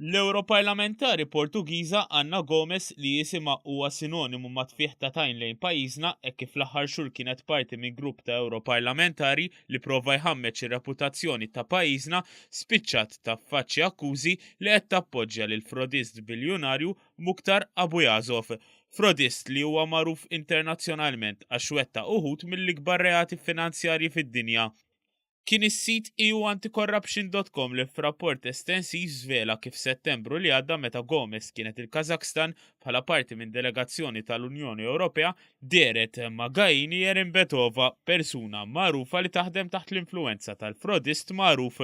L-Ewroparlamentari Portugiża Anna Gomes li jisimha huwa sinonimu ma' tfih ta' tajn lejn pajjiżna hekk kif l-aħħar xhur kienet parti minn grupp ta' Ewroparlamentari li prova jħammeġ ir-reputazzjoni ta' pajjiżna spiċċat taffaċċja akkużi li qed tappoġġja lil frodist biljunarju Mukhtar Abuyazov, frodist li huwa magħruf internazzjonalment għax wettaq uħud mill-ikbar reati finanzjarji fid-dinja, kien is-sit EUAnticorruption dot com li f'rapport estensiv żvela kif Settembru li għadda meta Gomes kienet il-Kazakhstan bħala parti minn delegazzjoni tal-Unjoni Ewropea dehret ma' Gaini Erimbetova, persuna magħrufa li taħdem taħt l-influwenza tal-frodist magħruf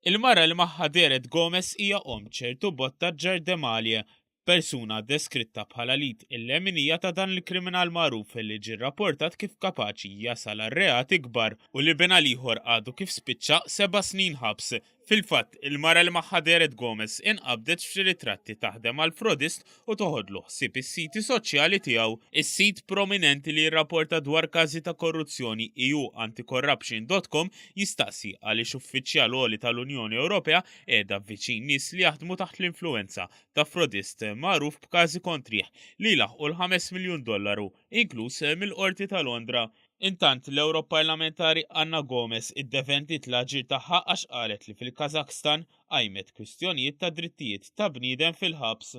Il-mara li magħha dehret Gomes hija omm ċertu Botta Ġardemalie, persuna deskritta bħala l-id il-leminija ta' dan il-kriminal magħruf li ġie rrapportat kif kapaċi jasal għal reati kbar u li binha l-ieħor għadu kif spiċċa seba' snin ħabs. Fil-fatt, il-mara li magħha dehret Gomes inqabdet f'xi ritratti taħdem għal frodist u toħodlu ħsieb is-siti soċjali tiegħu. Is-sit prominenti li jirrapporta dwar każi ta' korruzzjoni EU anticorruption.com jistaqsi għaliex uffiċjal għoli tal-Unjoni Ewropea qiegħda viċin nies li jaħdmu taħt l-influwenza ta' frodist magħruf b'każi kontrih li jlaħqu l-5 miljun dollaru, inkluż mill-Qorti ta' Londra. Intant, l-Ewroparlamentari Anna Gomes iddefendiet l-aġir tagħha għax qalet li fil-Kazakhstan, qajmet kwistjonijiet ta' drittijiet ta' bniedem fil-ħabs.